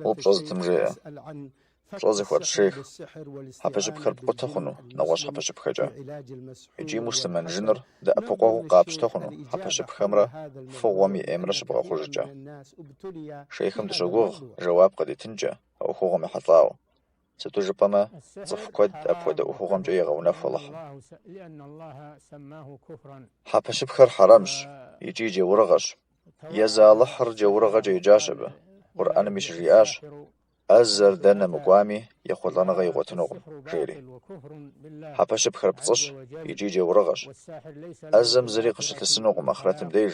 Упщӏэ зытым жеӏэ, пщӏэ зыхуэтщӏ шейх, хьэпэщыпхэр пкъутэ хъуну нэгъуэщӏ хьэпэщыпхэкӏэ. Икӏи муслъымэн жыныр дэӏэпыкъуэгъуу къапщтэ хъуну хьэпэщыпхэмрэ фыгъуэм и ӏеймрэ щыбгъэхъужкӏэ. Шейхым дыщогугъ жэуап къыдитынкӏэ а ӏуэхугъуэм ехьэлӏауэ. Сыту жыпӏэмэ, цӏыху куэд апхуэдэ ӏуэхугъуэмкӏэ егъэунэху Алыхьым. Хьэпэщыпхэр хьэрэмщ икӏи джэурыгъэщ. Езы Алыхьыр джэурыгъэкӏэ еджащ абы. Къурӏэнми щыжиӏащ, ӏэзэр дэнэ мыкӏуами, ехъулӏэныгъэ игъуэтынукъым, жери. Хьэпэщыпхэр пцӏыщ икӏи джэурыгъэщ. ӏэзэм зыри къыщылъысынукъым ахърэтым деж.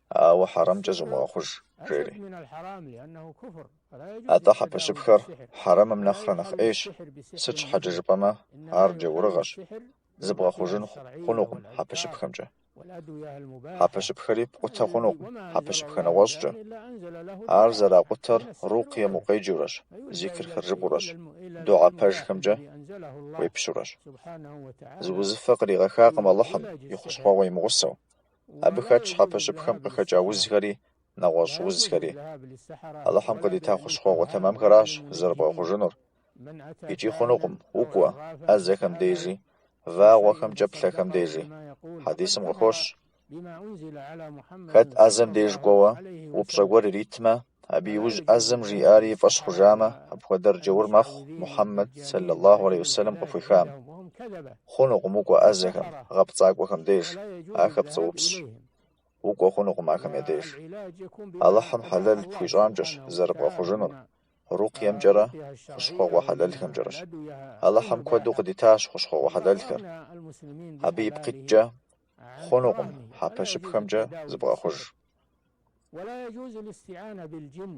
ауэ хьэрэмыкӏэ зумыгъэхъуж, жери. Атӏэ хьэпэщыпхэр хьэрэмым нэхърэ нэхъ ӏейщ, сыт щхьэкӏэ жыпӏэмэ ар джаурыгъэщ, зыбгъэхъужын хъунукъым хьэпэщыпхэмкӏэ. Хьэпэщыпхэри пкъутэ хъунукъым хьэпэщыпхэ нэгъуэщӏкӏэ. Ар зэракъутэр рукъыем укъеджэурэщ, зикрхэр жыпӏурэщ, дугьэ пэжхэмкӏэ уепщурэщ. Зы узыфэ къригъэхакъым Алыхьым и хущхъуэгъуэ имыгъусэу. Абы хэтщ хьэпэщыпхэм къыхэкӏа узхэри, нэгъуэщӏ узхэри. Алыхьым къыдита хущхъуэгъуэ тэмэмхэращ зэрыбгъэхъужынур. Икӏи хъунукъым, укӏуэ, ӏэзэхэм дежи, вагъуэхэмкӏэ плъэхэм дежи. Хьэдисым къыхощ, Хэт ӏэзэм деж кӏуэуэ, упщӏэ гуэр иритмэ, Абы иужь ӏэзэм жиӏари и фӏэщ хъужамэ, апхуэдэр джэур мэхъу Мухьэммэд сэллаллаху алейхи уэсэлэм къыхуехам. Хъунукъым укӏуэ ӏэзэхэм, гъэпцӏакӏуэхэм деж, ахэр пцӏыупсщ. Укӏуэ хъунукъым ахэм я деж. Алыхьым хьэлэл пхуищӏамкӏэщ зэрыбгъэхъужынур, рукъыемкӏэрэ хущхъуэгъуэ хьэлэлхэмкӏэрэщ. Алыхьым куэду къыдитащ хущхъуэгъуэ хьэлэлхэр. Абы ипкъ иткӏэ, хъунукъым хьэпэщыпхэмкӏэ зыбгъэхъуж.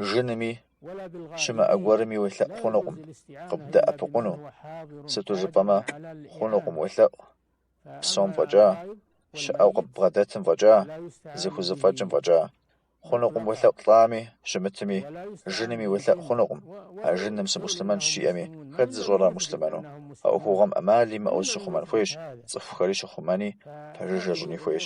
Жынми, щымыӏэ гуэрми уелъэӏу хъунукъым къыбдэӏэпыкъуну, сыту жыпӏэмэ хъунукъым уелъэӏу, псэум фӏэкӏа, щыӏэу къыббгъэдэтым фӏэкӏа, зыхузэфӏэкӏым фӏэкӏа. хъунукъым уелъэӏу лӏами, щымытми, жынми уелъэӏу хъунукъым, а жыным сымуслъымэнщ жиӏэми, хэт зыщӏэр ар муслъымэну? А ӏуэхугъуэм ӏэмал имыӏэу зыщыхъумэн хуейщ, цӏыхухэри щыхъумэни, пэжыжьэ щӏыни хуейщ.